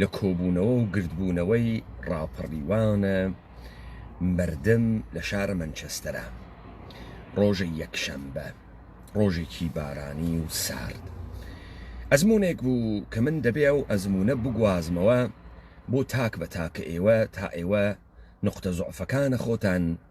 لە کۆبوونەوە و گردبوونەوەی ڕاپەڕیوانە مەردم لە شارە مەنچەستەرا ڕۆژی یەکشەمبە ڕۆژێکی بارانی و سارد ئەزمونێک بوو کە من دەبێ ئەو ئەزمونە بگوازمەوە بۆ تاک بە تاکە ئێوە تا ئێوە نقطە زعفەکانە خۆتان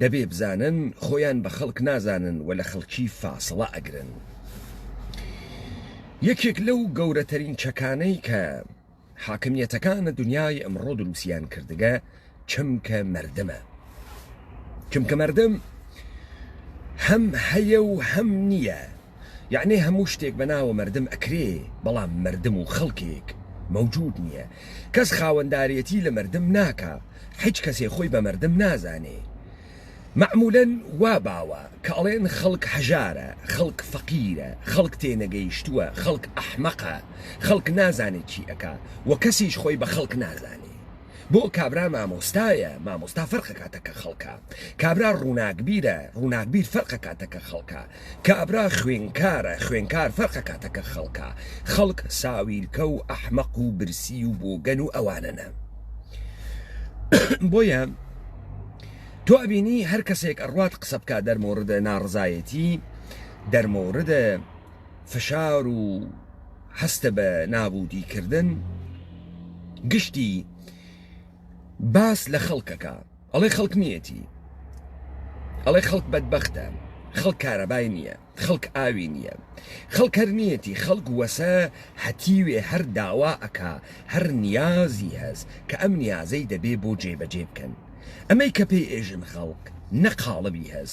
دەبێ بزانن خۆیان بە خەڵک نازانن و لە خەڵکی فاسڵە ئەگرن. یەکێک لەو گەورەتەرین چەکانەی کە حاکمیەتەکانە دنیای ئەمڕۆ دروسیان کردگە چمکە مەردمە. چمکە مەردم هەم هەیە و هەم نییە. یەعنی هەموو شتێک بە ناوە مەردم ئەکرێ بەڵام مەردم و خەڵکێک مەوجود نیە کەس خاوەندارێتی لە مەردم ناکا حیچ کەسێ خۆی بە مەردم نازانێ مەعمولەن وا باوە کە ئەڵێن خەڵک هەژارە خەڵک فەقیرە خەڵک تێنەگەیشتوە خەڵک ئەحمەقە خەڵک نازانێ چی ئەکا وە کەسیش خۆی بە خەڵک نازانێ بۆ کابرا مامۆستایە مامۆستا فەرقەکاتە کە خەڵکە کابرا ڕوناکبیرە ڕوناکبیر فەرقەکاتە کە خەڵکە کابرا خوێنکارە، خوێنکار فەرق ئەکاتە کە خەڵکە، خەڵک ساویلکە و ئەحمەق و برسی و بۆگەن و ئەوانەنە. بۆیە تۆ ئەبینی هەر کەسێک ئەڕوات قسە بکات دەرمۆردە ناڕزایەتی، دەرمۆردە فشار و هەستە بە نابوودی کردن، گشتی باس لە خەڵکەکە. ئەڵێ خەڵک نیەتی ئەڵێ خەڵک بەدبەختە خەڵک کارەبای نییە خەڵک ئاوی نییە خەڵک هەر نیەتی خەڵک وەسە هەتیوێ هەر داوا ئەکا هەر نیازی هەس کە ئەم نیازەی دەبێ بۆ جێ بەجێ بکەن ئەمەی کە پێی ئێژن خەڵک نە قاڵبی هەس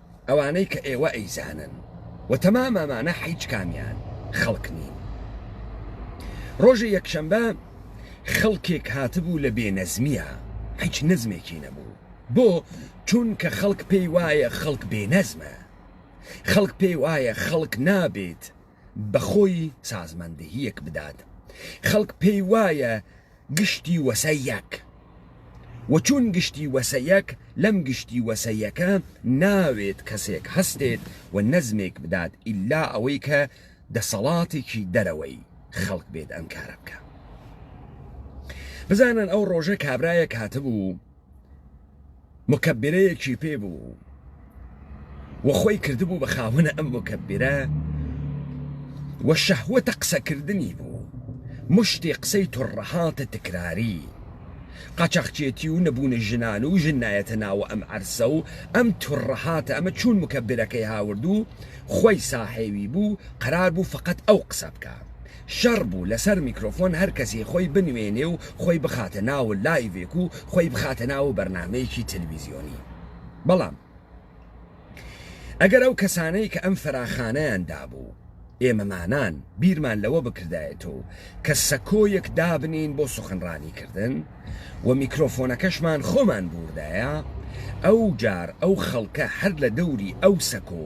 ئەوانەی کە ئێوە ئەیزانن و تەمام ئەمانە حیچ کامیان خەڵک نین ڕۆژی یەکشەمبە خەڵکێک هاتبوو لە بێ نەزمیە حیچ نزمێکی نەبوو بۆ چونکە خەڵک پێی وایە خەڵک بێ نەزمە خەڵک پێی وایە خەڵک نابێت بەخۆی سازماندهیەک بدات خەڵک پێی وایە گشتی وەسە یەک و چون گشتی وەسە یەک لەم گشتی وەسە یەکە ناوێت کەسێک هەستێت و نەزمێک بدات ئیلا ئەوەی کە دەسەڵاتێکی دەرەوەی خەڵک بێت ئەم کارە بکە بزانن ئەو ڕۆژە کابرایەک هاتبوو مکبرەیەکی پێ بوو و خۆی کردبوو بە خاوەنە ئەم مکبرە و شەهوەتە قسەکردنی بوو مشتی قسەی تڕەهاتە تکراری قاچاخچێتی و نەبوونە ژنان و ژن نایەتە ناوە ئەم عەرسە و ئەم تڕەهاتە ئەمە چوون مکە برەکەی هاوردوو خۆی ساحێوی بوو قەرار بوو فقط ئەو قسە بکە شەڕ بوو لەسەر میکرۆفۆن هەر کەسێ خۆی بنوێنێ و خۆی بخاتە ناوو لایڤێک و خۆی بخاتە ناوو بەرنامەیەکی تەلویزیۆنی بەڵام ئەگەر ئەو کەسانەی کە ئەم فەراخانەیان دابوو ئێمەمانان بیرمان لەوە بکردایەتەوە کە سەکۆیەک دابنێین بۆ سوخنڕانی کردن و میکرۆفۆنەکەشمان خۆمان بوردایە ئەو جار ئەو خەڵکە هەر لە دەوری ئەو سەکۆ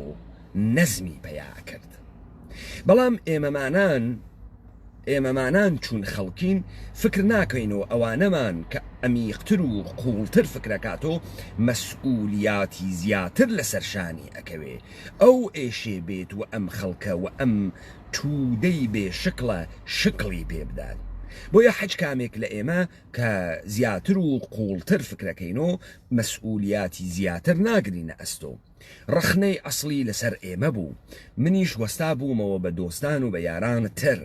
نەزمی پەیا ئەکرد. بەڵام ئێمەمانان ئێمەمانان چون خەڵکین فکر ناکەین و ئەوانەمان کە ئەمیقتر و قوڵتر فکرەکاتۆ مەسئولیاتی زیاتر لەسەر شانی ئەکەوێ ئەو ئێشێ بێت و ئەم خەڵکە و ئەم توودەی بێ شکڵە شکڵی پێ بدات بۆیە حەج کامێک لە ئێمە کە زیاتر و قوڵتر فکرەکەینۆ مەسئولیاتی زیاتر ناگرینە ئەستۆ. ڕەخنەی ئەسڵی لەسەر ئێمە بوو، منیش وەستا بوومەوە بە دۆستان و بە یاران تر.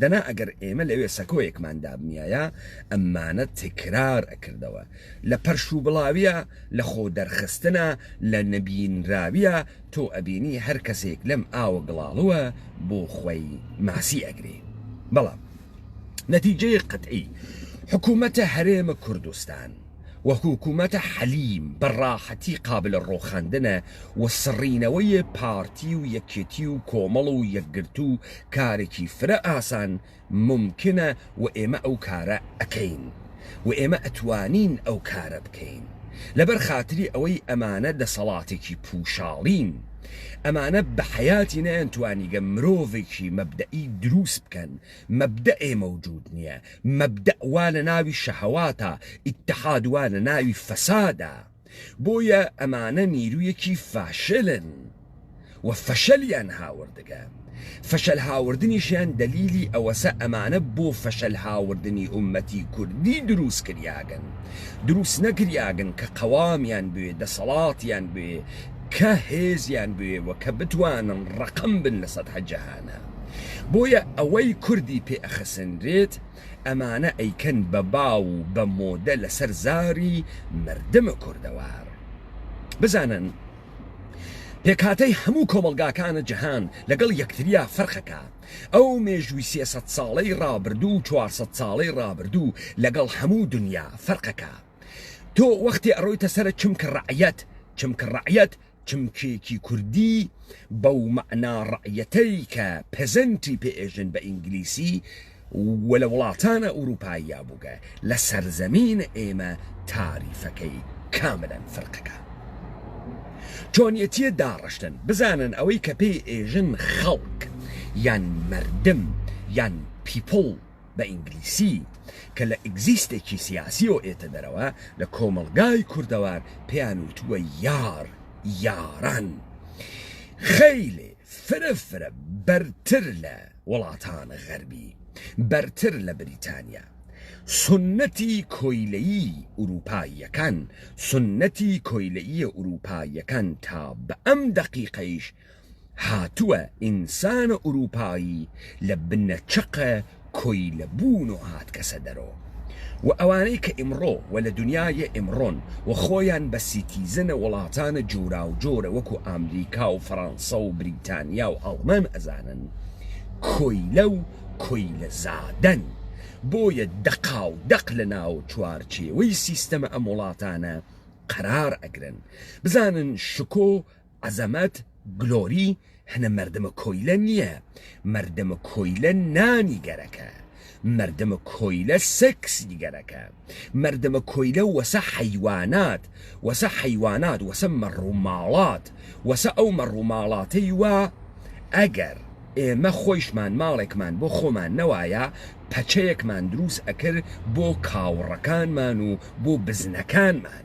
دەنا ئەگەر ئێمە لەوێ سەکۆیەکمان دابنیایە، ئەممانە تکرار ئەکردەوە. لە پەرش و بڵاویە، لە خۆ دەرخستنە، لە نەبینراویە، تۆ ئەبینی هەر کەسێک لەم ئاوە گڵاڵوە بۆ خوەی ماسی ئەگرێ. بەڵام نەتیجەی قەتعی، حکوومەتە هەرێمە کوردستان. و حکومەتە حەلیم بە ڕاحەتی قابلە ڕۆخاندنە و سڕینەوەی پارتی و یەکێتی و کۆمەڵ و یەکگرتوو کارێکی فرە ئاسان مومکینە و ئێمە ئەو کارە ئەکەین و ئێمە ئەتوانین ئەو کارە بکەین لەبەر خاتری ئەوەی ئەمانە دەسەڵاتێکی پووشاڵین ئەمانە بە حەیاتی نەیانتوانیگە مرۆڤێکی مەبدەئی درووست بکەن مەبدەئێ مەوجوود نیە مەبدەء وا لە ناوی شەهەواتە، ئیتحاد وا لە ناوی فەسادە، بۆیە ئەمانە نیروویەکی فاشلن و فەشەلیان هاوردگە، فەشەل هاوردنیشیان دەلیلی ئەوەسە ئەمانە بۆ فەشەل هاوردنی ئوممەتی کوردی درووست کریاگن، درووست نەکریاگن کە قەوامیان بوێ، دەسەڵاتیان بوێ، کە هێزیان بوێ و کە بتوانن ڕەقم بن لە سەتحە جەهانە. بۆیە ئەوەی کوردی پێ ئەخەسەنرێت ئەمانە ئەیکەن بە باو و بە مۆدە لەسەر زاری مردم کوردەوار بزانن پێکهاتەی هەموو کۆمەڵگاکانە جەهان لەگەڵ یەکتریا فەرقەکە ئەو مێژووی سێسەد ساڵەی ڕابردوو و چوارسەد ساڵەی ڕابردوو لەگەڵ هەموو دنیا فەرقەکە تۆ وەختی ئەڕۆیتە سەر چمکە ڕعەت چمکە ڕعەت چمکێکی کوردی بەو مەعنا ڕەعیەتەی کە پێزەنتی پێ ئێژن بە ئینگلیسی و لە وڵاتانە ئورووپاییا بووگە لە سەرزەمینە ئێمە تاریفەکەی کاملەن فرقەکە چۆنیەتیە داڕشتن بزانن ئەوەی کە پێی ئێژن خەڵک یان مردم یان پیپڵ بە ئینگلیسی، کە لە ئیگزیستێکی سیاسیەوە ئێتە دەرەوە، لە کۆمەڵگای کوردەوار پێیان وتووە یار، یاران. خەیلێ فرە فرە بەرتر لە وڵاتان غەربی، بەرتر لە بریتانیا. سوننەتی کۆیلەیی ئورووپاییەکان، سوننەتی کۆیلەییە ئورووپاییەکان تا بە ئەم دەقیقەیش هاتووە ئینسانە ئورووپایی لە بنە چەقە کۆیلە بوون و هاتکەسە دەرۆ و ئەوانەی کە ئیمڕۆ و لە دنیایێ ئیمڕۆن و خۆیان بە سیتیزەنە وڵاتانە جۆراوجۆرە وەکوو ئامریکا و فەڕانسە و بریتانیا و ئاڵمان ئەزانن کۆیلە و کۆیلە زادەن بۆیە دەقاو دەق لە ناو چوارچێوەی سیستەمە ئەم وڵاتانە قەرار ئەگرن بزانن شکۆ عەزەمەت گلۆری هەنە مەردمە کۆیلە نیە مەردمە کۆیلە نانی گەرەکە مەردمە کۆیلە سێکسی گەرەکە مەردمە کۆیلە وەسە حەیوانات وەسە حەیوانات وەسە مەڕوماڵات وەسە ئەو مەڕوماڵاتەی وا ئەگەر ئێمە خۆیشمان ماڵێکمان بۆ خۆمان نەوایە پەچەیەکمان دروست ئەکرد بۆ کاوڕەکانمان و بۆ بزنەکانمان.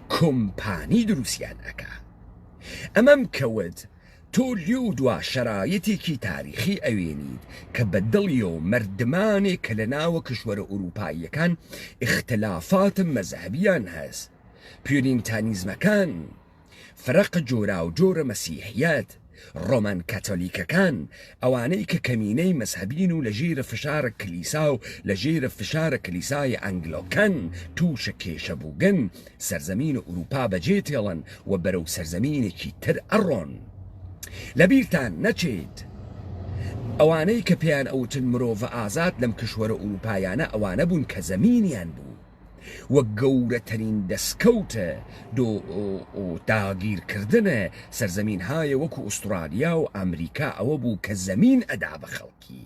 کۆمپانی دروستیان ئەکا ئەمەم کەوت تۆ لێو دوا شەرایەتێکی تاریخی ئەوێنیت کە بە دڵیەوە مەردمانێک کە لە ناوە کشوەرە ئوروپاییەکان ئیختلافاتە مەزهەبیان هەس پیۆرینتانیزمەکان فرەقە جۆراوجۆرە مەسیحیەت ڕۆمان کاتۆلیکەکان، ئەوانەی کە کەمینەی مەزهەبین و لە ژیرە فشارە کلیسا و لە ژیرە فشارە کلیسای ئەنگلۆکەن تووشە کێشە بووگن، سەرزەمین ئورووپا بە جێ تێڵن و بەرەو سەرزەمینێکی تر ئەڕۆن. لە بیرتان نەچێت ئەوانەی کە پێیان ئەوتن مرۆڤە ئازاد لەم کشوەرە ئورووپایانە ئەوانە بوون کە زەمینیان بوو. و گەورەترین دەسکەوت دۆ داگیر کردن سەرزەمین هایە وەکو ئوسترالیا و ئەمریکا ئەوە بوو کە زەمین ئەدا بە خەڵکی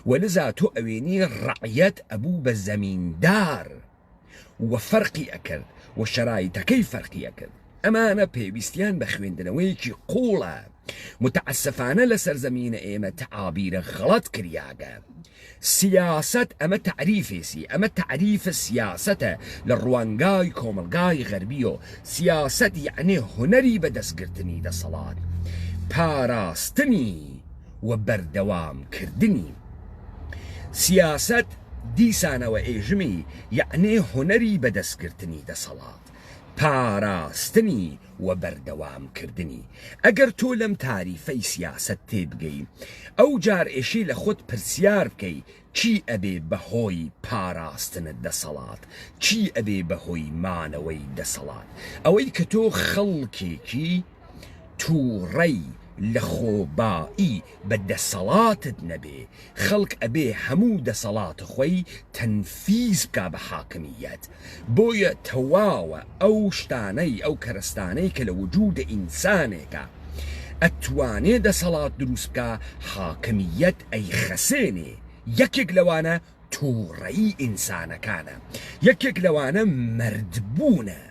و لزا تۆ ئەوێنی ڕەعیەت ئەبوو بە زەمیندار و فەرقی ئەکرد و شەرایتەکەی فەرقی ئەکرد ئەمانە پێویستیان بە خوێندنەوەیەکی قوڵە متعسفانە لە سەرزەمینە ئێمە تەعابیرە غەڵەت کریاگە سیاسەت ئەمە تەعریفێسی ئەمە تەعریفە سیاسەتە لە ڕوانگای کۆمەلگای غەربی و سیاسەت یعنی هونەری بە دەستگرتنی دەسەڵات پاراستنی و بەردەوام کردنی سیاسەت دیسانەوە ئێژمی یعنی هونەری بە دەستگرتنی دەسەڵات. پاراستنی و بەردەوامکردنی. ئەگەر تۆ لەم تاریفەی سیاسەت تێبگەی، ئەوجار ئێشێ لە خۆت پرسیار بکەی چی ئەبێ بە هۆی پاراستن دەسەڵات؟ چی ئەبێ بە هۆی مانەوەی دەسەڵات؟ ئەوەی کە تۆ خەڵکێکی. توڕەی لە خۆبایی بە دەسەڵاتت نەبێ خەڵک ئەبێ هەموو دەسەڵات خۆی تەنفیز بکا بە حاکمییەت بۆیە تەواوە ئەو شتانەی ئەو کەرەستانەی کە لە وجودە ئینسانێکە ئەتوانێ دەسەڵات دروست بکا حاکمییەت ئەی خەسێنێ یەکێک لەوانە توڕەیی ئینسانەکانە یەکێک لەوانە مەرد بوونە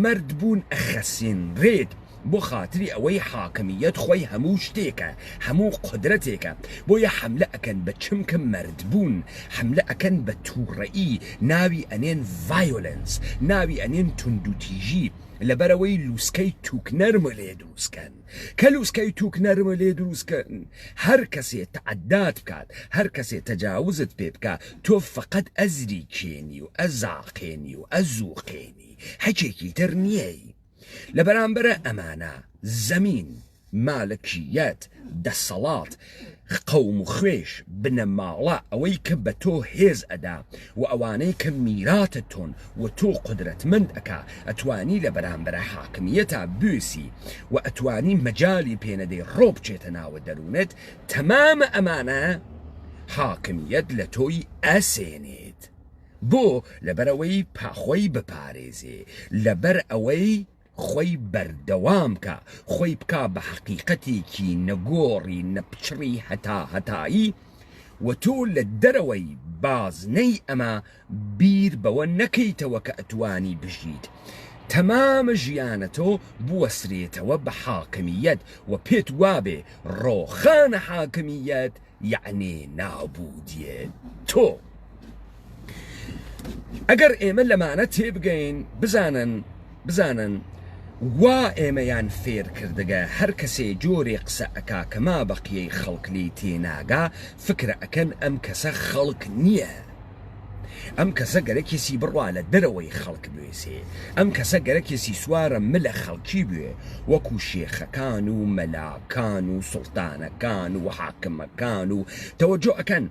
مەرد بوون ئەخەسینرێت بۆ خاتری ئەوەی حاکمیەت خۆی هەموو شتێکە هەموو قودرەتێکە بۆیە حەملە ئەکەن بە چمکە مەرد بوون حەملە ئەکەن بە توڕەیی ناوی ئەنێن ڤایۆلێنس ناوی ئەنێن توندوتیژی لەبەرئەوەی لوسکەی توک نەرمە لێ دروستکەن. کە لوسکەی توک نەرمە لێ دروست کەن هەر کەسێ تەعدات بکات هەر کەسێ تەجاوزت پێ بکا تۆ فەقەت ئەزری کێنی و ئەزاقێنی و ئەزووقێنی حکێکی تر نیەی لە بەرامبەرە ئەمانە زەمین مالکیەت دەسەڵات قەوم و خوێش، بنەماڵە، ئەوەی کە بە تۆ هێز ئەدا و ئەوانەی کە میراتت تۆن و تۆ قودرەتمەند ئەکا، ئەتوانی لە بەرامبەرا حاکمییەتا بوێسی و ئەتوانی مەجالی پێ نەدەی ڕۆ بچێتە ناوە دەروونت، تەمامە ئەمانە حاکمییەت لە تۆی ئەسێنێت. بۆ؟ لەبەر ئەوەی پا خۆی بپارێزێ، لەبەر ئەوەی. خۆی بەردەوام کا، خۆی بکا بە حەقیقەتێکی نەگۆڕی نەپچڕی هەتاهەتایی و تۆ لە دەرەوەی بازنەی ئەمە بیر بەوە نەکەیتەوە کە ئەتوانی بژیت تەمام ژیانەتۆ بوەسرێتەوە بە حاکمییەت و پێت وابێ ڕۆخانە حاکمییەت یەعنی نابوودیێ تۆ. ئەگەر ئێمە لەمانە تێبگەین بزانن بزانن وا ئێمەیان فێر کردگە هەر کەسێ جۆرێ قسە ئەکا کە مابەقیەی خەڵک لێی تێناگا فکرە ئەکەن ئەم کەسە خەڵک نیە. ئەم کەسە گەرەکێسی بڕا لە دەرەوەی خەڵک بوێسێ، ئەم کەسە گەرەکێسی سوارە ملە خەڵکی بوێ وەکو شێخەکان و مەلاکان و سوڵتانەکان و حاکمەکان و تەوەجۆ ئەکەن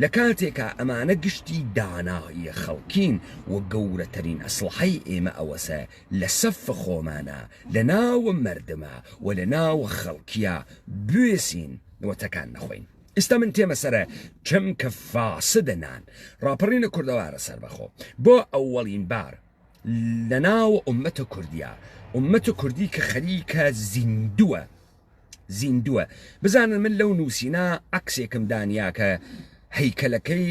لە کاتێکا ئەمانە گشتی داناییە خەڵکین و گەورەتەرین ئەسڵەحەی ئێمە ئەوەسە لە سەف خۆمانا لە ناو مەردما و لە ناو خەڵکیا بوێسین و تەکان نەخۆین. ئیستا من تێمە سەرە چم کە فاسە دە نان ڕاپەڕینە کوردەوارە سەر بەخۆ بۆ ئەوەڵین بار لە ناو ئومەتە کوردیا ئومەتە کوردی کە خەریکە زیندووە زیندووە بزانن من لەو نووسینە عکسێکم دانیاکە هەیکەلەکەی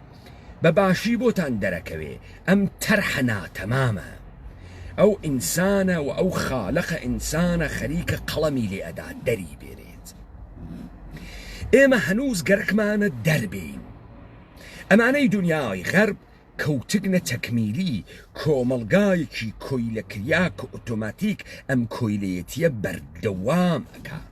بە باشی بۆتان دەرەکەوێ ئەم تەرحە ناتەمامە ئەو ئینسانە و ئەو خالەقە ئینسانە خەریکە قەڵەمی لێ ئەدا دەری بێنێت ئێمە هەنووز گەرەکمانە دەربین ئەمانەی دنیای غەرب کەوتگنە تەکمیلی کۆمەڵگایەکی کۆیلەکریا کە ئۆتۆماتیک ئەم کۆیلەتیە بەردەوام ئەکات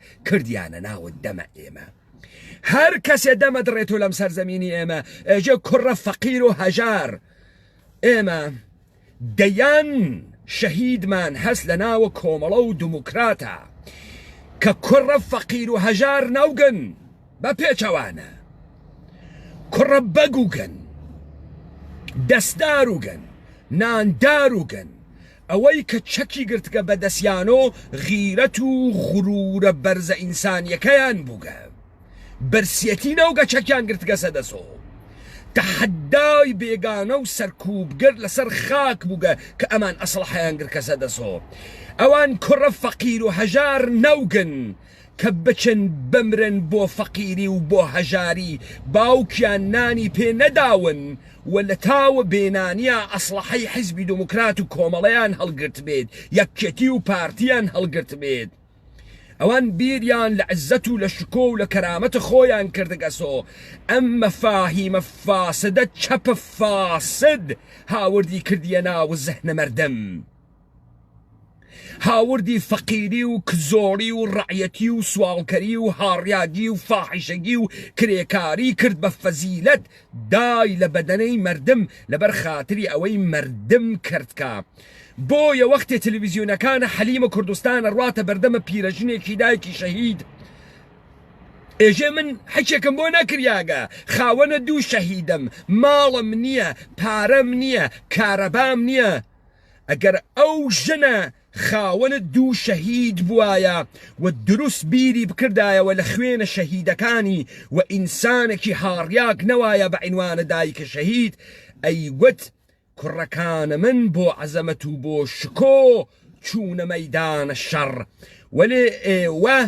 کردیانە ناوت دەمە ئێمە هەر کەسێ دەمە دڕێت و لەم سەرزەمینی ئێمە ئێژێ کوڕە فەقیر و هەژار ئێمە دەیان شەهیدمان هەست لە ناوە کۆمەڵە و دموکراتە کە کوڕە فەقیر و هەژار ناوگەن بە پێچەوانە کوڕە بەگوگەن دەستدار وگەن ناندار وگەن ئەوەی کە چەکی گرتگە بە دەسیان و غیرەت و غرورە بەرزە ئینسانیەکەیان بووگە برسیەتی نەوگە چەکیان گرتگەسە دەس و تەحەدای بێگانە و سەرکووبگر لەسەر خاک بووگە کە ئەمان ئەسڵحەیان گرکەسە دەس و ئەوان کوڕە فەقیر و هەژار نەوگن کە بچن بمرن بۆ فەقیری و بۆ هەژاری باوکیان نانی پێ نەداون و لە تاوە بێنانیا ئەسڵەحەی حیزبی دۆمۆکرات و کۆمەڵەیان هەڵگرتبێت یەکێتی و پارتیان هەڵگرتبێت ئەوان بیریان لە عزەت و لە شکۆ و لە کەرامەتە خۆیان کردگەسۆ ئەم مەفاهیمە فاسدە چەپە فاسد هاوردی کردیە ناو زهنە مەردم. هاوردی فەقیری و کزۆڵی و ڕعەتی و سواڵکەری و هاڕیاگی و فاحیشەگی و کرێکاری کرد بە فەزیلەت دای لە بەدەنەی مەردم لەبەر خاتری ئەوەی مەردم کەرتکا بۆیە وەختێ تلویزیونەکانە حەلیمە کوردستان ئەڕاتە بەردەمە پیرەژنێکی دایکی شەهید ئێژێ من حەکێکم بۆ نەکریاگە خاوەنە دوو شەهیدم ماڵم نییە پارەم نییە کارەبام نییە ئەگەر ئەو ژنە خاوەنت دوو شەهید بوایە و دروست بیری بکردایەوە لە خوێنە شەهیدەکانی و ئینسانەکی هاڕیاک نەوایە بە عینوانە دایکە شەهید ئەیوت کوڕەکانە من بۆ عەزەمەت و بۆ شکۆ چوونە مەیدانە شەڕ وەلێ ئێوە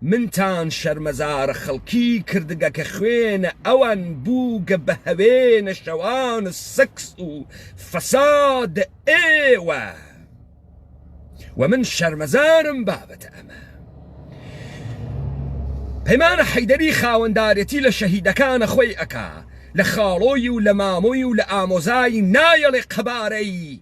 منتان شەرمەزارە خەڵکی کردگە کە خوێنە ئەوان بووگە بە هەوێنە شەوان و سکس و فەساد ئێوە و من شەرمەزارم بابەتە ئەمە پەیمانە حەیدەری خاوەندارەتی لە شەهیدەکانە خۆی ئەکا لە خاڵۆی و لە مامۆی و لە ئامۆزای نایەڵێ قەبارەی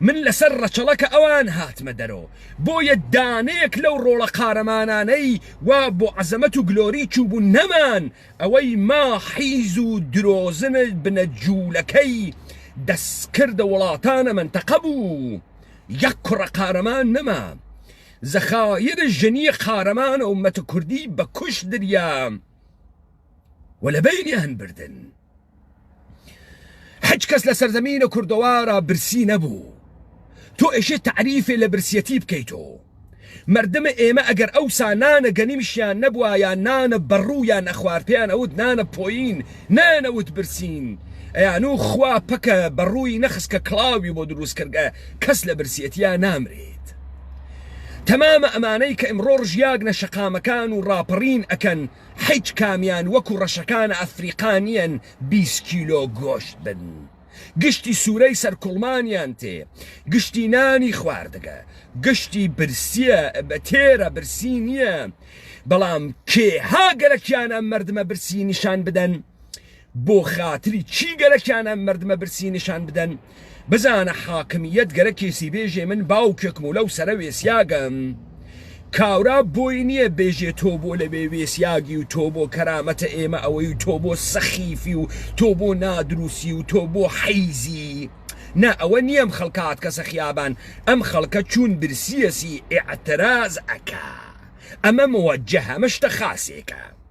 من لەسەر ڕەچەڵەکە ئەوان هاتمە دەرۆ بۆیە دانەیەک لەو ڕۆڵە قارەمانانەی وا بۆ عەزەمەت و گلۆری چووبوون نەمان ئەوەی ما حیز و درۆزن بنە جوولەکەی دەستکردە وڵاتانە مەنتەقە بوو یەک کوڕە قارەمان نەما زەخایرە ژنیە قارەمانە و مەتە کوردی بە کوشت دریا. و لە بەینیان بردن هەچ کەس لە سەرزەمینە کوردەوارە برسی نەبوو تۆ ئێشێ تعریفێ لە برسیەتی بکەیتۆ مردمە ئێمە ئەگەر ئەو سانانە گەنیمشیان نەبوایە نانە بەڕوویان نەخوارد پێیان ئەوت نانە پۆین نانەوت برسین ئەیان و خوا پەکە بەڕووی نەخسکە کڵاوی بۆ دروست کردگە کەس لە برسیەتیا نامرێت تەمامە ئەمانەی کە ئمڕۆ ڕژیاگنە شەقامەکان و ڕاپەڕین ئەکەن حیچ کامیان وەکو ڕەشەکان ئەفریقا نیەن بیست کیلۆ گۆشت بن گشتی سورەی سەر کوڵمانیان تێ گشتی نانی خواردگە گشتی برسیە بە تێرە برسی نیە بەڵام کێ ها گەلەکیان ئەم مردمە برسی نیشان بدەن بۆ خاتری چی گەرەکیان ئەم مردمە برسی نیشان بدەن بزانە حاکمیت گەرەکێسی بێژێ من باوکێکم و لەو سەرە وێسیاگەم کاورا بۆی نییە بێژێ تۆ بۆ لەوێ وێسیاگی و تۆ بۆ کەرامەتە ئێمە ئەوەی و تۆ بۆ سەخیفی و تۆ بۆ نادروسی و تۆ بۆ حیزی نا ئەوە نییەم خەڵکات کەسە خیابان ئەم خەڵکە چوون برسیەسی ئعتراز ئەکا ئەمە موەجه ئەمە شتە خاسێکە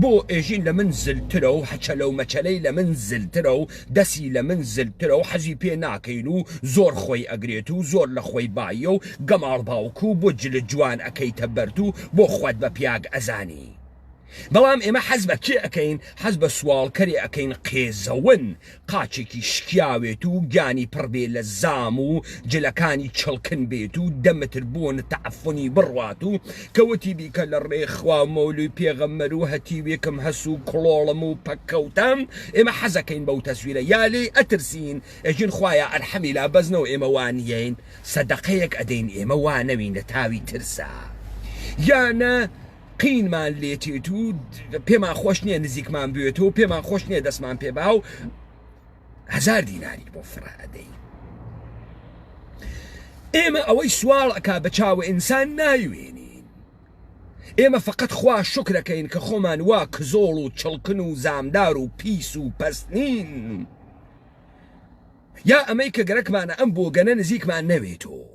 بۆ ئێژین لە من زلترە و هەچەلە و مەچەلەی لە من زلترە و دەسی لە من زلترە و حەزی پێ ناکەین و زۆر خۆی ئەگرێت و زۆر لە خۆی باییە و گەماڵ باوک و بۆ جلت جوان ئەکەیتە بەرد و بۆ خوت بە پیاگ ئەزانی بەڵام ئێمە حەز بە کێ ئەکەین حەز بە سواڵکەرێ ئەکەین قێزەون قاچێکی شکیاوێت و گیانی پڕ بێ لە زام و جلەکانی چڵکن بێت و دە متر بۆن تەعفنی بڕوات و کەوتی بیکە لە ڕێی خوا و مەولوی پێغەمبەر و هەتیوێکم هەس و کڵۆڵم و پەککەوتم ئێمە حەزەکەین بەو تەسویرە یا لێی ئەترسین ئەژین خوایە ئەرحەمی لا بەزنەوە ئێمە وا نیین سەدەقەیەک ئەدەین ئێمە وا نەوین لە تاوی ترسا یا نە قینمان لێتێت و پێمان خۆش نییە نزیکمان بێت و پێمان خۆش نییە دەستمان پێ با و هزار دیناری بۆ فڕادەی ئێمە ئەوەی سوواڵ ئەک بە چاوە ئینسان ناوێنین ئێمە فقط خوا شکرەکەین کە خۆمان وا کزۆڵ و چڵکن و زامدار و پیس و پستنین یا ئەمەی کە گەرەکمانە ئەم بۆگەنە نزیکمان نەوێتەوە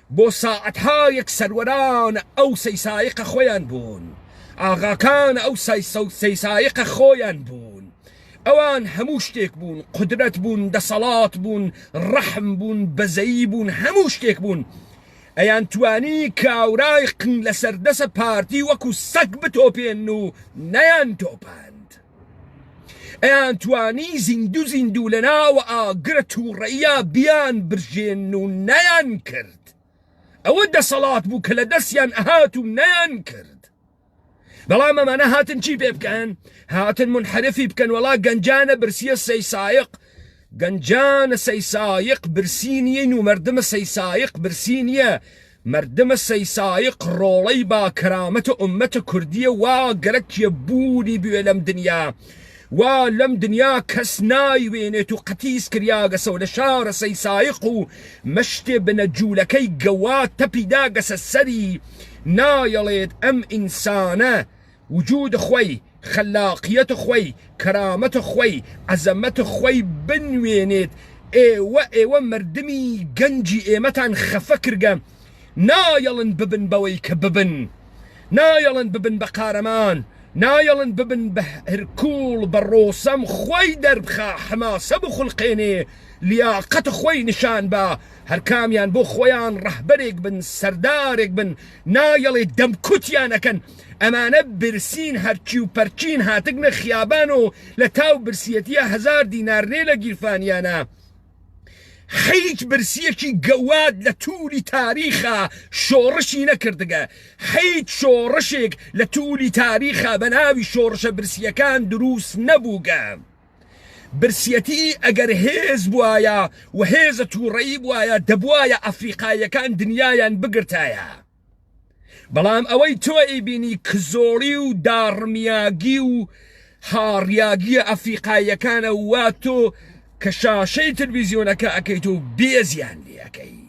بۆ ساعەتهایەک سەروەران ئەو سەیسایقە خۆیان بوون، ئاغاکان ئەو سەیسایقە خۆیان بوون، ئەوان هەموو شتێک بوون، قودرەت بوون، دەسەڵات بوون، ڕەحم بوون، بەزەیی بوون، هەموو شتێک بوون، ئەیانتوانی کاورای قنگلەسەردەسە پارتی وەکو سەگ بتۆپێنن و نەیانتۆپاند. ئەیان توانی زیندو زیندو لە ناوە ئاگرە تووڕەیە بیان برژێن و نەیان کرد ئەوە دەسەڵات بوو کە لە دەستیان ئەهات و نەیان کرد بەڵام ئەمانە هاتن چی پێ بکەن هاتن منحرفی بکەن وەڵا گەنجانە برسیە سەی سایق گەنجانە سەی سایق برسی نیە و مردمە سەی سایق برسی نیە مردم سەیسایق ڕۆڵەی با کەرامەت ئومەت کوردیە وا گەرەکیە بوونی بوێ لەم دنیا وا لەم دنیا کەس نایوێنێت و قەتیس کریاگەسە و لە شارە سەیسایق و مشتێ بنە جوولەکەی گەوا تەپی داگەسە سەری نایەڵێت ئەم ئینسانە وجوود خوەی خەلاقیەت خۆی، کەرامەت خۆی، عەزەمەت خۆی بنوێنێت، ئێوە ئێوە مەردمی گەنجی ئێمەتان خەفە کرگە، نایەڵن ببن بەوەی کە ببن، نایەڵن ببن بە قارەمان، نایەڵن ببن بە هرکوڵ بە ڕۆسەم خۆی دەربخا حماسە بخولقێنێ لیاقەت خۆی نیشان با، هەرکامیان بۆ خۆیان ڕەهبەرێک بن سەردارێک بن، نایەڵێ دەمکوتیان ئەکەن، ئەمانە برسین هەرچی و پەرچین هاتگنە خیابان و لە تاو برسیەتیە هەزار دینار نێ لە گیرفانیانە حیچ برسیەکی گەواد لە تولی تاریخا شۆڕشی نەکردگە حیچ شۆڕشێک لە تولی تاریخا بە ناوی شۆڕشە برسیەکان دروس نەبووگە برسیەتی ئەگەر هێز بوایە و هێزە توڕەیی بوایە دەبوایە ئەفریقاییەکان دنیایان بگرتایە. بەڵام ئەوەی تۆ ئەیبینی کزۆڵی و داڕمیاگی و هاڕیاگیە ئەفریقاییەکانە وا تۆ کە شاشەی تلویزیۆنەکە ئەەکەیت و بێزیان لەکەی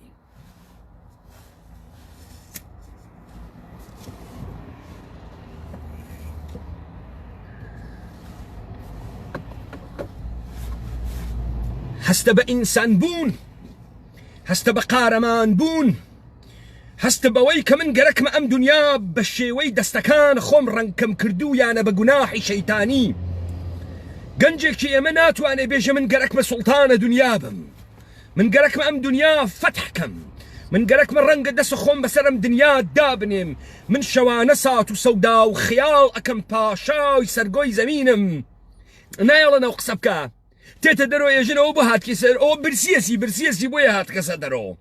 هەستە بە ئینسان بوون هەستە بە قارەمان بوون هەست بەوەی کە من گەرەکمە ئەم دونیا بە شێوەی دەستەکان خۆم ڕەنگکەم کردوویانە بە گوناحی شەیتانی گەنجێکی ئێمە ناتوانێ بێژە من گەرەکمە سوڵتانە دونیا بم من گەرەکمە ئەم دونیا فەتحکەم من گەرەکمە ڕەنگە دەس خۆم بەسەرم دنیا دابنێم من شەوانە سات و سەودا و خیاڵ ئەەکەم پاشاوی سەرگۆی زەمینم نایڵە نەو قسە بکە تێتە دەرۆ ێژنەوە بۆ هاتکی سەر ئەو برسیەسی برسیەسی بۆیە هاتکەسە دەرەوە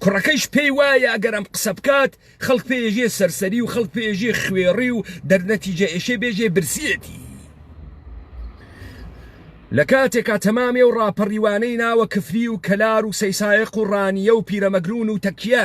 کوڕەکەیش پێی وایە ئەگەر ئەم قسە بکات خەڵک پێژێ سەرسەری و خەڵک پێژێ خوێڕی و دەرنەتیجە ئێشێ بێژێ برسیەتی لە کاتێکا تەمامێ و ڕاپەڕیوانەی ناوە کفری و کەلار و سەیسایق و ڕانیە و پیرەمەگرون و تەکیە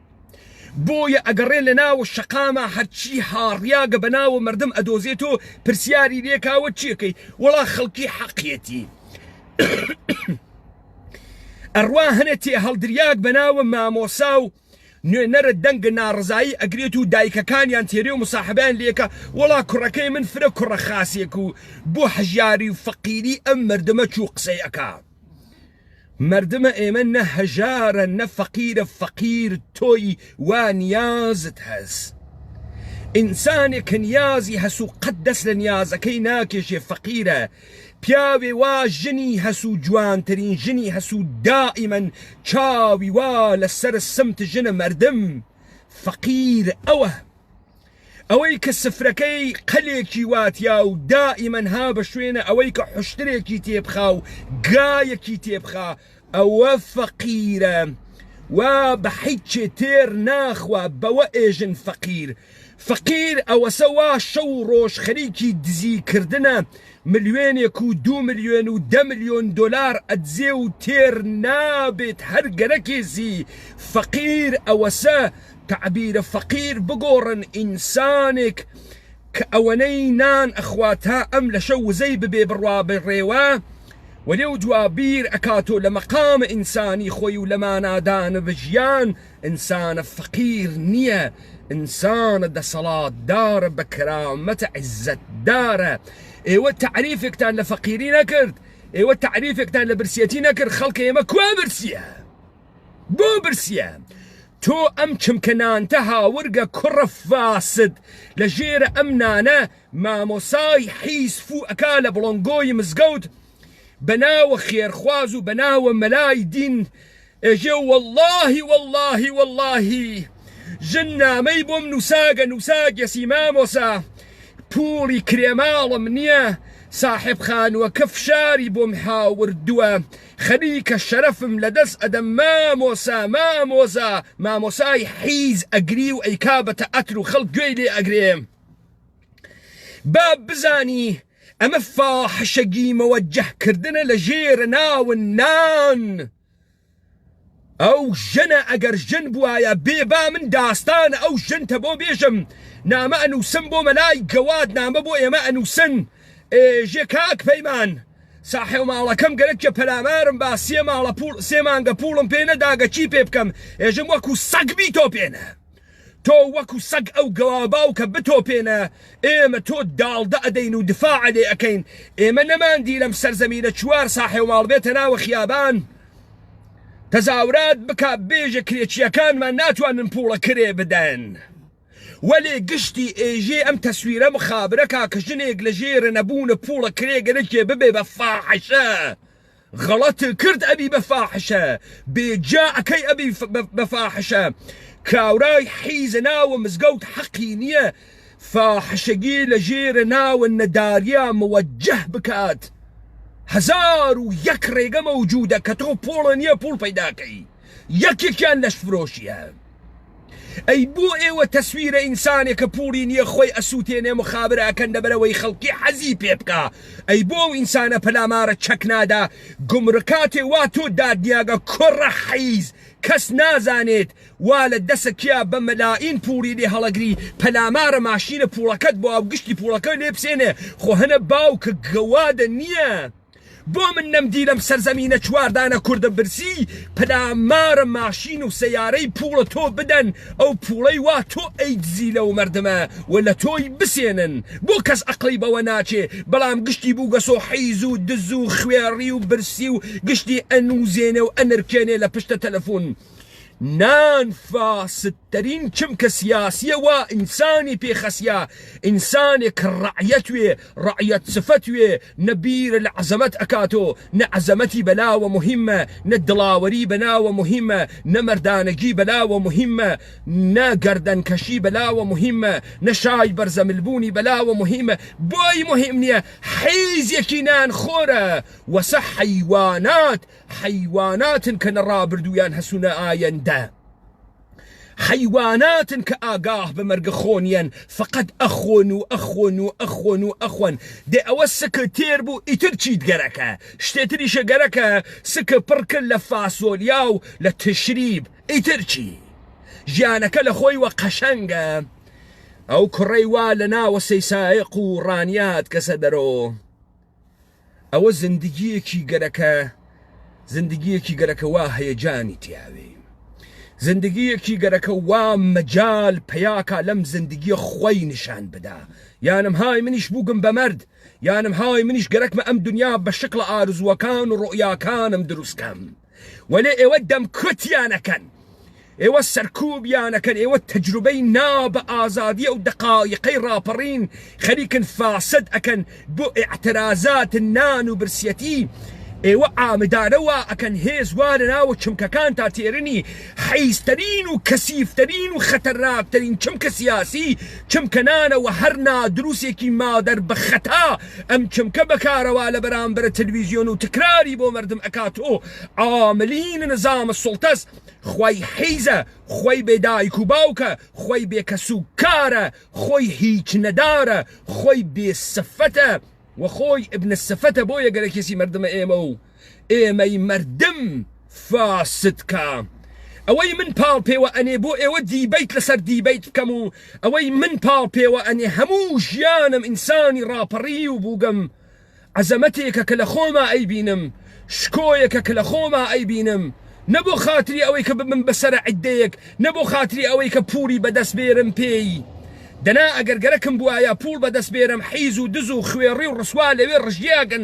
بۆیە ئەگەڕێ لە ناوە شەقامە هەرچی هاڕیاگە بە ناوە مەردم ئەدۆزێت و پرسیاری لێکاوە چیەکەی وەڵا خەڵکی حەقیەتی ئەڕوا هەنێ تێ هەڵدریاک بە ناوە مامۆسا و نوێنەرە دەنگە ناڕزایی ئەگرێت و دایکەکانیان تێرێ و مساحبیان لێکە وەڵا کوڕەکەی من فرە کوڕە خاسێک و بۆ حەژاری و فەقیری ئەم مردمە چوو قسەی ئەکا مردمە ئێمە نە هەژارە نە فەقیرە فەقیر تۆی وا نیازت هەس ئینسانێک کە نیازی هەس و قەت دەست لە نیازەکەی ناکێشێ فەقیرە پیاوێ وا ژنی هەس و جوانترین ژنی هەس و دائیمەن چاوی وا لەسەر سمت ژنە مردم فەقیر ئەوە ئەوەی کە سفرەکەی قەلێکی واتیا و دائیمەن ها بە شوێنە ئەوەی کە حوشترێکی تێبخا و گایەکی تێبخا ئەوە فەقیرە وا بە حیچێ تێر ناخوا بەوە ئێژن فەقیر فەقیر ئەوەسە وا شەو و ڕۆژ خەریکی دزی کردنە ملیۆنێک و دوو ملیۆن و دە ملیۆن دۆلار ئەدزێ و تێر نابێت هەر گەرەکێزی فەقیر ئەوەسە تەعبیرە فەقیر بگۆڕن ئینسانێک کە ئەوەنەی نان ئەخوا تا ئەم لەشە وزەی ببێ بڕوا بە ڕێوە و لێو دوا بیر ئەکات و لە مەقامە ئینسانی خۆی و لە مانادانە بە ژیان ئینسانە فەقیر نیە ئینسانە دەسەڵات دارە بە کەرامەتە عیزەت دارە ئێوە تەعریفێکتان لە فەقیری نەکرد ئێوە تەعریفێکتان لە برسیەتی نەکرد خەڵکە ئێمە کوا برسیە بۆ برسیە تۆ ئەم چمکە نانتە هاورگە کوڕە فاسد لە ژێرە ئەم نانە مامۆسای حیز فو ئەکا لە بڵۆنگۆی مزگەوت بەناوە خێرخواز و بەناوە مەلای دین ئێژێ واللهی واللهی واللهی ژن نامەی بۆم نووساگە نووساگەسی مامۆسا پوڵی کرێماڵم نییە ساحب خانووەکە فشاری بۆم هاوردووە خەریکە شەرەفم لەدەس ئەدەم مامۆسا مامۆزا مامۆسای حیز ئەگری و ئەیکا بە تەئەتر و خەڵک گوێی لێ ئەگرێ با بزانی ئەمە فاحشە گیمەوە جەهکردنە لە ژێرە ناون نان ئەو ژنە ئەگەر ژن بواە بێ با من داستان ئەو ژنتە بۆ بێژم نامە ئەنووسم بۆ مەلای گەواد نامە بۆ ئێمە ئەنووسن ئێژێ کاک پەیمان ساحێو ماڵەکەم گەرەک کە پەلامارم با سێ ماڵە پوڵ سێ مانگە پوڵم پێ نەداگە چی پێ بکەم ئێژم وەکو سەگ بیتۆپێنە تۆ وەکو سەگ ئەو گەوا باوکە بتۆپێنە ئێمە تۆ داڵدە ئەدەین و دفاع لێ ئەکەین ئێمە نەماندی لەم سەرزەمینە چوار ساحێو ماڵ بێتە ناوە خیابان تەزاورات بکە بێژە کرێچیەکانمان ناتوانن پوڵە کرێ بدەن. وەلێ گشتی ئێژێ ئەم تەسویرە مخابرە کا کە ژنێگ لە ژێرە نەبوونە پووڵە کرێگە نەکێ ببێ بە فاحشە غەڵەت کرد ئەبی بە فاحشە بێجا ئەکەی ئەبی بە فاحشە کاورای حیزە ناوە مزگەوت حەقی نییە فاحشەگی لە ژێرە ناوە نەداریا موەجه بکات هەزار و یەک ڕێگە مەوجودە کە تۆ پۆڵە نییە پوڵ پەیداکەی یەکێکیان لەشفرۆشیە ئەی بۆ ئێوە تەسویرە ئینسانێک کە پوڵی نییە خۆی ئەسووتێنێ مخابر ئەکەن دەبەرەوەی خەڵکی حەزی پێ بکە ئەی بۆ ئەو ئینسانە پەلامارە چەک نادا گمڕکاتێ وا تۆ دادنیاگە کوڕە حەیز کەس نازانێت وا لە دەسە کیا بە مەلائین پوڵی لێ هەڵەگری پەلامارە ماشینە پوڵەکەت بۆ ئەو گشتی پوڵەکە لێ بسێنێ خۆ هەنە باوکە گەوادە نییە بۆ من نەمدی لەم سەرزەمینە چوار دانە کوردم برسی پلامارە ماشین و سەیارەی پووڵە تۆ بدەن ئەو پووڵەی وا تۆ ئەیدزی لەو مەردمە و لە تۆی بسێنن بۆ کەس ئەقڵی بەوە ناچێ بەڵام گشتی بووگەس و حیز و دز و خوێڕی و برسی و گشتی ئەنووزێنێ و ئەنرکێنێ لە پشتە تەلەفوون نان فاست ترین چمکە سیاسیە وا ئینسانی پێ خەسیا ئینسانێ کە ڕەعیەت وێ ڕەعیەت سفەت وێ نە بیرە لە عەزەمەت ئەکاتۆ نە عەزەمەتی بەلاوە موهیمە نە دڵاوەری بەلاوە موهیمە نە مەردانەگی بەلاوە موهیمە نە گەردەن کەشی بەلاوە موهیمە نە شای بەرزەمل بوونی بەلاوە موهیمە بۆی موهیم نیە حیزێکی نان خۆرە وەسە حەیوانات حەیواناتن کە نە ڕابردوویان هەسو نە ئایەندە. حەیواناتن کە ئاگاه بە مەرگە خۆنیەن فەقەت ئەخۆن و ئەخۆن و ئەخۆن و ئەخۆن دێ ئەوە سکە تێر بوو ئیتر چیت گەرەکە شتێتریشە گەرەکە سکە پڕ کرد لە فاسۆلیا و لە تشریب ئیتر چی ژیانەکە لە خۆی وە قەشەنگە ئەو کوڕەی وا لە ناوە سەیسایەق و ڕانیات کەسە دەرۆ ئەوە زندگیەکی گەرەکە زندگیەکی گەرەکە وا هەیەجانی تیاوێ زندگیەکی گەرەکە وا مەجال پیاکا لەم زندگیە خوەی نیشان بدا یانم های منیش بووگم بە مەرد یانم های منیش گەرەکمە ئەم دنیا بە شکڵە ئارزووەکان و ڕوئیاکانم دروستکەم وەلێ ئێوە دەمکوت یانەکەن ئێوە سەرکوب یانەکەن ئێوە تەجروبەی نا بە ئازادیە و دەقایقەی ڕاپەڕین خەریکن فاسد ئەکەن بۆ ئعترازات نان و برسیەتی ئێوە ئامدارەوە ئەکەن هێز وا لە ناوە چمکەکان تا تێرنی حیزترین و کەسیفترین و خەتەرناکترین چمکە سیاسی چمکەنانەوە هەر نادروسێکی مادەر بە خەتا ئەم چمکە بەکارەوە لە بەرامبەر تلویزیۆن و تکراری بۆ مردم ئەکات و عاملین نظام سلطەس خوی حیزە خوی بێ دایک و باوکە خوی بێ کەس و کارە خوی هیچ نەدارە خوی بێ سفەتە وە خوی ابن السفەتە بۆیە گەرەکێسی مردمە ئێمە و ئێمەی مردم فاسد کا ئەوەی من پاڵ پێوە ئەنێ بۆ ئێوە دیبەیت لەسەر دیبەیت بکەم و ئەوەی من پاڵ پێوە ئەنێ هەموو ژیانم ئینسانی ڕاپەڕیو بووگم عەزەمەتێکە کە لە خۆما ئەیبینم شکۆیەکە کە لە خۆما ئەیبینم نە بۆ خاتری ئەوەی کە ببم بەسەرە عدەیەک نە بۆ خاتری ئەوەی کە پووری بەدەست بێرم پێی دەنا ئەگەر گەرەکم بواە پوڵ بەدەست بێرم حیز و دز و خوێڕی و ڕسوا لەوێ ڕژیاگن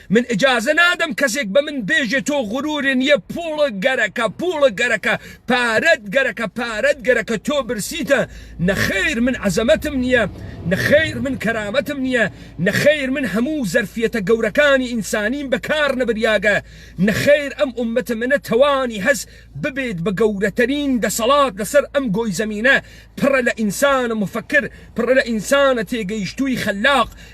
من ئیجازە نادەم کەسێک بە من بێژێ تۆ غرورێ نیە پووڵ گەرەکە پووڵ گەرەکە پارەت گەرەکە پارەت گەرەکە تۆ برسیتە نەخیر من عەزەمەتم نیە نەخیر من کەرامەتم نیە نەخیر من هەموو زەرفیەتە گەورەکانی ئینسانیم بە کار نەبریاگە نەخیر ئەم ئومەتە منە تەوانی هەس ببێت بە گەورەتەرین دەسەڵات لەسەر ئەم گۆی زەمینە پڕە لە ئینسانە موفەکر پڕە لە ئینسانە تێگەیشتووی خەلاق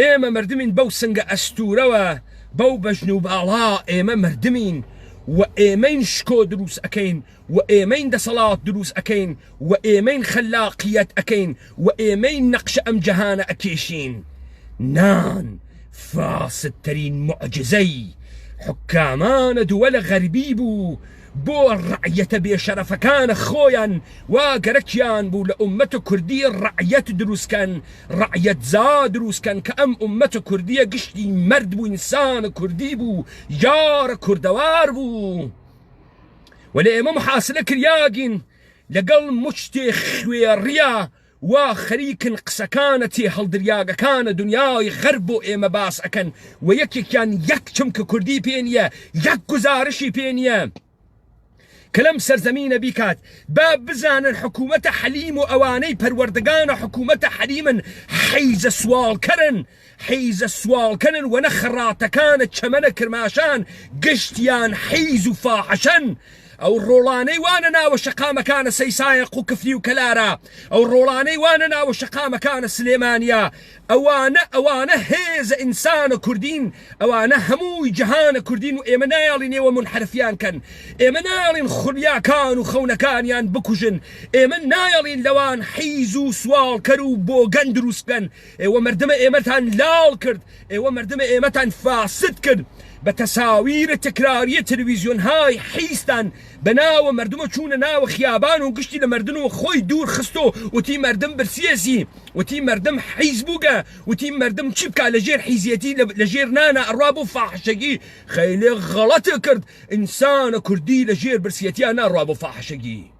ئێمە مردمین بەو سنگە ئەستورەوە بەو بەژن و باڵا ئێمە مردمین و ئێمەین شکۆ دروست ئەکەین و ئێمەین دەسەڵات دروست ئەکەین و ئێمەین خەلاقیەت ئەکەین و ئێمەین نەقشە ئەم جەهانە ئەکێشین نان فاسدترین معجزەی حکامان دول غربی بوو بۆ ڕەعیەتە بێ شەرەفەکانە خۆیان وا گەرەکیان بوو لە ئومەتە کوردی ڕەعیەت دروست کەن ڕەعیەت زا دروست کەن کە ئەم ئومەتە کوردیە گشتی مەرد بوو ئینسانە کوردی بوو یارە کوردەوار بوو وەلێ ئێمە محاسلە کریاگین لەگەڵ مچتێ خوێڕیا وا خەریکن قسەکانە تێ هەڵدریاگەکانە دنیای غەرب بۆ ئێمە باس ئەکەن و یەکێکیان یەک چمکە کوردی پێ نیە یەک گوزارشی پێ نیە کە لەم سەرزەمینە بیکات با بزانن حکومەتە حەلیم و ئەوانەی پەروەردگانە حکومەتە حەلیمن حیزە سواڵکەرن حیزە سواڵکەنن وە نە خەڕاتەکانە چەمەنە کرماشان گشتیان حیز و فاحشەن ئەو ڕۆڵانەی وانە ناوە شەقامەکانە سەیسایە قوکفری و کەلارە ئەو ڕۆڵانەی وانە ناوە شەقامەکانە سلێمانیە ئەوانە ئەوانە هێزە ئینسانە کوردین ئەوانە هەمووی جەهانە کوردین و ئێمە نایەڵین ئێوە مونحەرفیان کەن ئێمە نایەڵین خولیاکان و خەونەکانیان بکوژن ئێمە نایەڵین لەوان حیز و سواڵکەر و بۆگەن دروست بکەن ئێوە مردمە ئێمەتان لال کرد ئێوە مردمە ئێمەتان فاسد کرد بە تەساویرە تکراریە تلویزیۆن های حیزتان بە ناوە مردمە چوونە ناوە خیابان و گشتی لە مردن و خۆی دوور خستۆ وتی مردم برسیەزی وتی مردم حیز بووگە وتی مردم چی بکە لە ژێر حیزیەتی لە ژێر نانە ئەڕا بۆ فاحشەگی خەیلێ غەڵەتە کرد ئینسانە کوردی لە ژێر برسیەتیان ناڕا بۆ فاحشەگی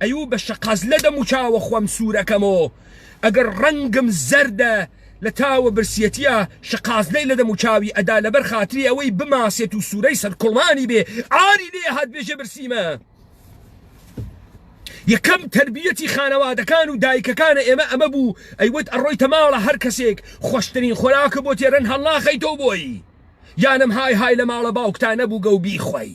ئەیوو بە شقاز لە دەم و چاوە خوەم سورەکەمۆ ئەگەر ڕەنگم زەردە لە تاوە برسیەتیە شقازلەی لە دەم و چاوی ئەدا لەبەر خاتری ئەوەی بماسێت و سورەی سەر کوڵمانی بێ عاری لێ هات بێژە برسیمە یەکەم تربیەتی خانەوادەکان و دایکەکانە ئێمە ئەمە بوو ئەیوت ئەڕۆیتە ماڵە هەر کەسێک خۆشترین خۆراکە بۆ تێرەن هەڵناخەیتەوە بۆی یانم های های لە ماڵە باوکتانە بوو گەو بیخۆی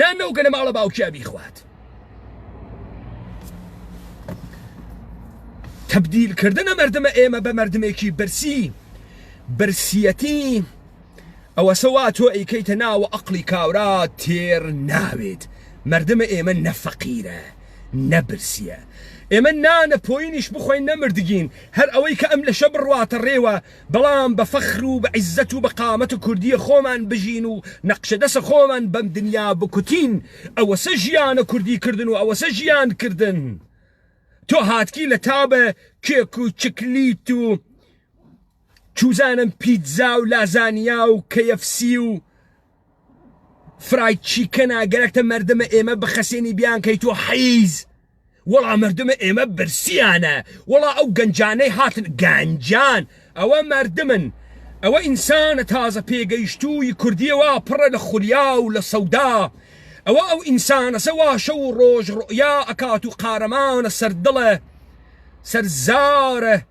نان لەو گەنە ماڵە باوکیا بیخوات تەبدیلکردنە مردمە ئێمە بە مردمێکی برسی برسیەتی ئەوە سەوا تۆ ئەیکەیتە ناوە ئەقلی کاورا تێر ناوێت مردمە ئێمە نەفەقیرە نەبرسیە ئێمە نانە پۆینیش بخۆین نەمردگین هەر ئەوەی کە ئەم لەشە بڕواتە ڕێوە بەڵام بە فەخر و بە عیزەت و بە قامەتە کوردیە خۆمان بژین و نەقشە دەسە خۆمان بەم دنیا بکوتین ئەوەسە ژیانە کوردی کردن و ئەوەسە ژیان کردن تۆ هاتکی لە تا بە کێک و چکلیت و چوزانم پیتزا و لازانیا و کەیەفسی و فرای چیکەنا گەرەکتە مردمە ئێمە بخەسێنی بیان کەی تۆ حیز وەڵا مردمە ئێمە برسیانە وەڵا ئەو گەنجانەی هاتن گەنجان ئەوە مردمن ئەوە ئینسانە تازە پێگەیشتووی کوردیەوە پڕە لە خولیا و لە سەودا ئەوە ئەو ئینسانەسە واشە و ڕۆژ ڕۆیا ئەکات و قارەمانە سەردڵە سەرزارە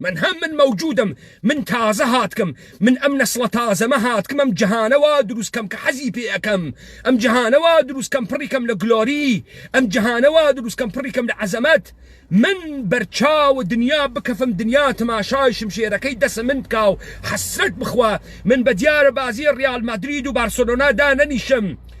من هە من مەوجودم من تازە هاتکم من ئەم نەسڵە تازەمە هاتکم ئەم جهانە وا دروست کەم کە حەزی پێ ئەکەم ئەم جهانە وا دروست کەم پڕی کەم لە گلۆری ئەم جهانە وا دروست کەم پڕی کەم لە عەزەمەت من بەرچاو دنیا بکەفم دنیا تماشای شمشێرەکەی دەسە من بکا و حەسرەت بخوا من بە دیارە بازی ڕیال مەدرید و بارسلۆنا دانەنیشم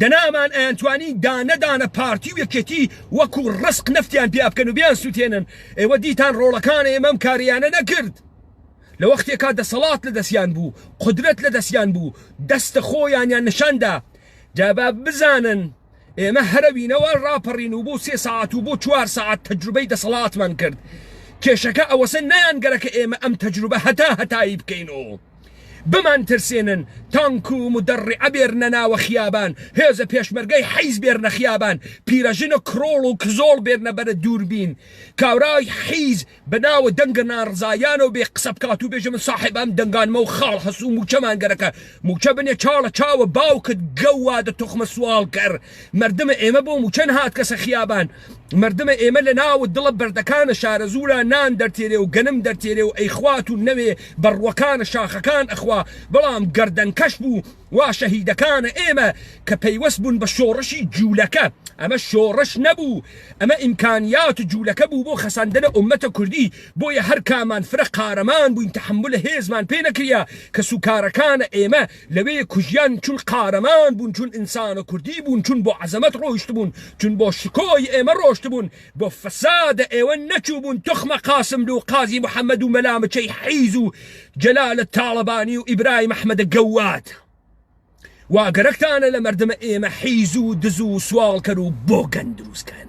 دەنا ئەمان ئەیانتوانی دانە دانە پارتی و یەکێتی وەکو ڕسق نفتیان پیا بکەن و بیان سووتێنن ئێوە دیتان ڕۆڵەکان ئێمەم کاریانە نەکرد لە وەختێکا دەسەڵات لە دەستیان بوو قدرەت لە دەستیان بوو دەستە خۆیانیان نیشاندا جابا بزانن ئێمە هەرەوینەوە ڕاپەڕین و بۆ سێ ساعت و بۆ چوار ساعت تەجروبەی دەسەڵاتمان کرد کێشەکە ئەوەسە نیان گەرەکە ئێمە ئەم تەجروبە هەتا هەتایی بکەین و بمانترسێنن تانک و مدەڕعە بێرنە ناوە خیابان هێزە پێشمەرگەی حیز بێرنە خیابان پیرەژنە کڕۆڵ و کزۆڵ بێرنە بەرە دووربین کابرای حیز بە ناوە دەنگە ناڕزایانەوە بێ قسە بکات و بێژە من ساحێب ئەم دەنگانمە و خاڵ هەس و موچە مانگەرەکە موچە بنێ چاڵە چاوە باوکت گەوادە توخمە سواڵکەر مردمە ئێمە بۆ موچەن هات کەسە خیابان مردمە ئێمە لە ناوت دڵە بەردەکانە شارەزوورا نان دەرتێرێ و گەنم دەرتێرێ و ئەیخوات و نەوێ بە ڕووەکانە شاخەکان ئەخوا بەڵام گەردەن کەش بوو وا شەهیدەکانە ئێمە کە پەیوەست بوون بە شۆڕشی جوولەکە ئەمە شۆڕش نەبوو ئەمە ئیمکانیات جوولەکە بوو بۆ خەساندنە ئومەتە کوردی بۆیە هەر کامان فرە قارەمان بووین تەحەمولە هێزمان پێ نەکریا کەسوکارەکانە ئێمە لەوێ کوژیان چون قارەمان بون چون ئینسانە کوردی بون چون بۆ عەزەمەت ڕۆیشتبون چون بۆ شکۆی ئێمە ڕۆشتبون بۆ فەسادە ئێوە نەچوبون توخمە قاسملوو قازی محمد و مەلا مچەی حیز و جەلالە تاڵەبانی و ئیبرایم ئەحمەدە گەواد وا گەرەکتانە لە مەردمە ئێمە حیزو دزو سواڵکەرو بۆگەن دروست کەن.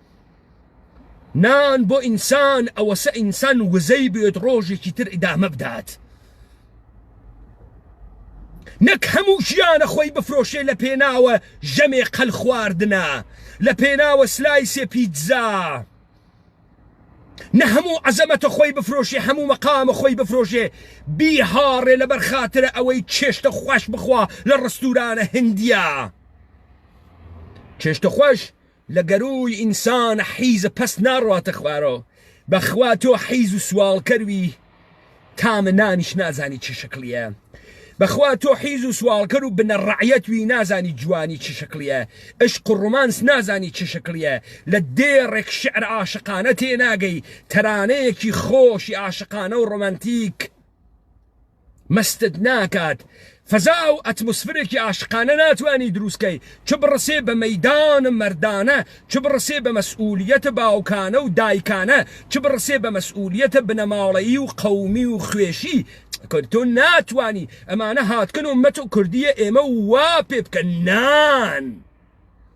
نان بۆ ئینسان ئەوەسە ئینسان وزەی بێت ڕۆژێکی تر ئیدامە بدات نەک هەموو ژیانە خۆی بفرۆشێ لە پێناوە ژەمێ قەل خواردنە لە پێناوە سلایسێ پیتزا نە هەموو عەزەمەتە خۆی بفرۆشێ هەموو مەقامە خۆی بفرۆشێ بیهاڕێ لەبەر خاترە ئەوەی چێشتە خوش بخوا لە ڕستورانە هندیە چێشتە خۆش لە گەرووی ئینسان حیزە پەس ناڕواتە خوارەوە بەخوا تۆ حیز و سواڵکەروی تامە نانیش نازانی چ شکلیە بەخوا تۆ حیز و سواڵکەر و بنە ڕعەت وی نازانی جوانی چ شکلیە عشق و ڕومانس نازانی چ شکلیە لە دێڕێک شعر عاشقانە تێناگەی تەرانەیەکی خۆشی عاشقانە و ڕۆمانتیک مەستت ناکات فەزا و ئەتموسفرێکی ئاشقانە ناتوانی دروست کەی چ بڕەسێ بە مەیدان مەردانە چ بڕەسێ بە مەسئولیەتە باوکانە و دایکانە چ بڕەسێ بە مەسئولیەتە بنەماڵەیی و قەومی و خوێشی کورد تۆ ناتوانی ئەمانە هاتکن و مەت و کوردیە ئێمە وا پێ بکە نان.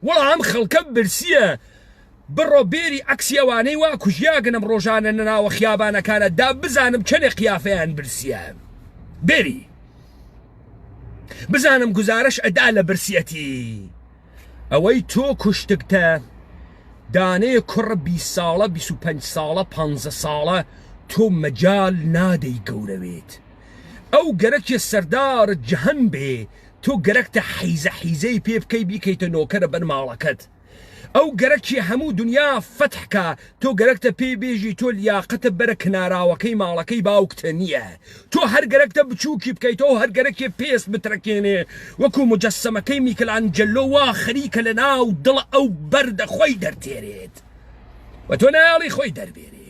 وەڵا ئەم خەڵکە برسیە بڕۆ بێری عەکسی ئەوانەی وا کوژیاگنم ڕۆژانە نەناوە خیابانەکانە دا بزانم چەنێ قیافەیان برسیە بێری بزانم گزارش ئەدا لە برسیەتی ئەوەی تۆ کوشتگتە دانێ کوڕ بی ساڵە 25 ساڵە پ ساڵە تۆ مەجال نادەی گەورەوێت ئەو گەرەکێ سەردار جهن بێ تۆ گەرەکتە حیزە حیزەی پێ بکەی بیکەیتە نۆکەرە بەر ماڵەکەت ئەو گەرەکی هەموو دنیا فەتح کا تۆ گەرەکتە پێی بێژی تۆ لیاقەتە بەرە کناراوەکەی ماڵەکەی باوکتە نییە تۆ هەر گەرەکتە بچووکی بکەیتەوە هەر گەرەکێ پێست بترەکێنێ وەکو مجەسەمەکەی میکلانجەلۆ وا خەریکە لەناو دڵ ئەو بەردە خۆی دەرتێرێت و تۆ نایەڵی خۆی دەربێنێ.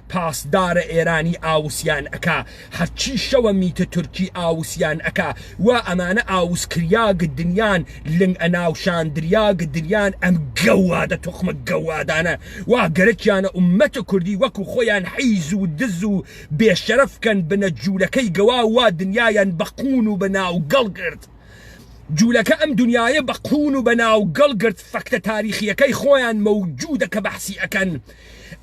پاسدارە ئێرانی ئاوسیان ئەکا هەرچی شەوە میتە تورکی ئاوسیان ئەکا وا ئەمانە ئاوس کریاگ دنیان لنگ ئەناوشان دریاگ دنیان ئەم گەوادە توخمە گەوادانە وا گەرەکیانە ئومەت کوردی وەکو خۆیان حیز و دز و بێ شەرەف کەن بنە جولەکەی گەواو وا دنیایان بە قون و بە ناو گەڵ گرت جولەکە ئەم دنیایە بە قون و بە ناو گەڵ گرت فەکتە تاریخیەکەی خۆیان مەوجودە کە بەحسی ئەکەن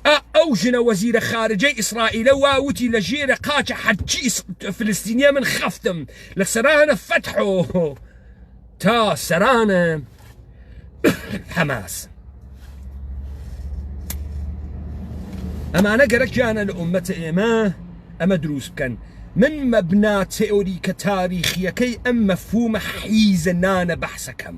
ئا ئەو ژنە وەزیرە خارجەی ئیسرائیلە وا وتی لە ژێرە قاچە حەجی فلستینیە من خەفتم لە سەرانە فەتحۆ تا سەرانە حەماس ئەمانە گەرەکیانە لە ئومەتە ئێمە ئەمە دروست بکەن من مەبنا تئۆریکە تاریخیەکەی ئەم مەفهومە حیزە نانە بەحسەکەم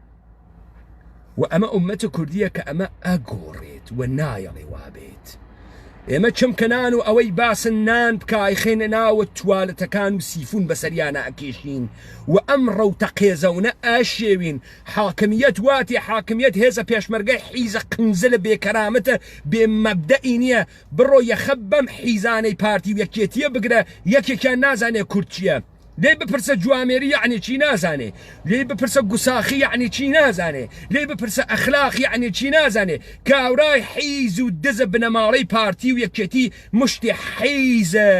و ئەمە ئومەتە کوردیە کە ئەمە ئەگۆڕێت و نایەڵێ وابێت ئێمە چمکەنان و ئەوەی باسن نان بکایخێنە ناوە توالەتەکان و سیفون بەسەریانە ئەکێشین و ئەم ڕەوتە قێزەونە ئاشێوین حاکمیت واتی حاکمیت هێزە پێشمەرگە حیزە قنزە لە بێکەرامەتە بێ مەبدەئی نییە بڕۆ یەخە بەم حیزانەی پارتی و یەکێتیە بگرە یەکێکیان نازانێ کورد چییە لێی بپرسە جوامێری یعنی چی نازانێ لێی بپرسە گوساخی یعنی چی نازانێ لێی بپرسە ئەخلاق یعنی چی نازانێ کاورای حیز و دزە بنەماڵەی پارتی و یەکێتی مشتی حیزە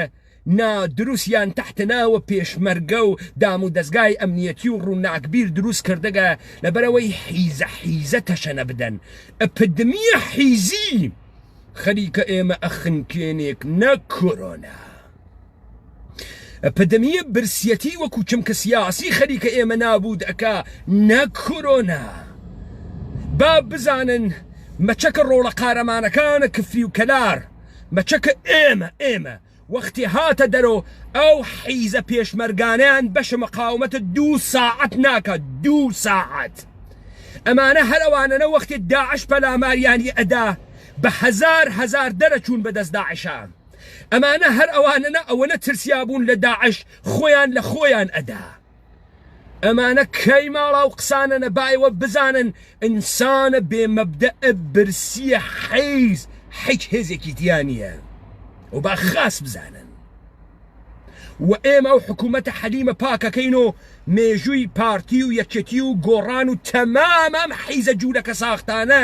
نادروستیان تحتناوە پێشمەرگە و دام و دەستگای ئەمنیەتی و ڕووناکبیر دروست کردگە لەبەرەوەی حیزە حیزە تەشەنە بدەن ئەپدمیە حیزی خەریکە ئێمە ئەخنکێنێک نە کۆرۆنا. پدمیە برسیەتی وەکو چمکە سیاسی خەریکە ئێمە نابود ئەکا نەک کۆرۆنا با بزانن مەچەکە ڕۆڵە قارەمانەکانە کفری و کەلار مەچەکە ئێمە ئێمە وەختی هاتە دەرۆ ئەو حیزە پێشمەرگانیان بەشە مەقاومەتە دوو ساعت ناکە دوو ساعت ئەمانە هەرەوانەنە وەختی داعش پەلاماریانی ئەدا بە هزار هزار دەرەچوون بەدەست داعشان ئەمانە هەر ئەوانەنە ئەوەنە ترسیابوون لە داعش خۆیان لە خۆیان ئەدا ئەمانە کەی ماڵا و قسانە نەبایەوە بزانن ئینسانە بێمەبدە برسیە حەیز حیچ هێزێکی دیانە و با خاس بزانن و ئێمە و حکوومەتە حەلیمە پاکەکەین و مێژووی پارتی و یەکێتی و گۆڕان و تەمامام حیزە جوولەکە ساختانە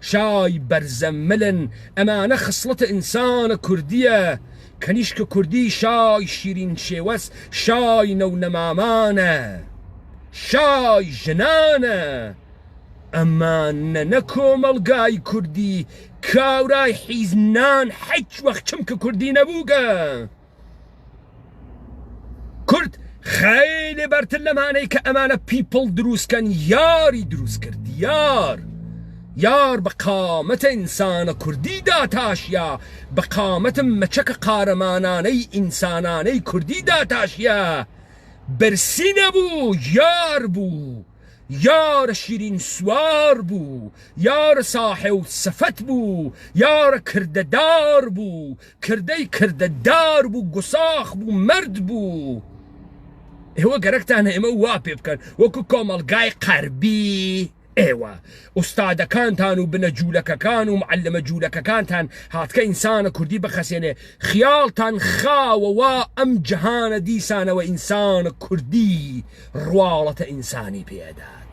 شای بەرزە ملن ئەمانە خسڵەتە ئینسانە کوردیە کەنیشکە کوردی شای شیرین شێوەس شای نەو نەمامانە شای ژنانە ئەمانە نە کۆمەڵگای کوردی کاورای حیز نان حیچ وەخ چمکە کوردی نەبووگە. کورد خەیلی بەرتر لەمانەی کە ئەمانە پیپڵ دروستکەن یاری دروست کرد یار یار بە قامەتە ئینسانە کوردیدا تاشیا بە قامەتم مەچەکە قارەمانانەی ئینسانانەی کوردیدا تاشیا برسی نەبوو یار بوو. یار شیرین سوار بوو یار ساحێو سفت بوو یار کردە دار بوو کردەی کردە دار بوو گوساخ بوو مەرد بوو ئێوە گەرەکتان ئێمە وا پێ بکەن وەکو کۆمەلگای قەربی ئێوە ئوستادەکانتان و بنە جوولەکەکان و معلمە جوولەکەکانتان هاتکە ئینسانە کوردی بخەسێنێ خیاڵتان خاوە وا ئەم جەهانە دیسانەوە ئینسان کوردی ڕواڵەتە ئینسانی پێ ئەدات.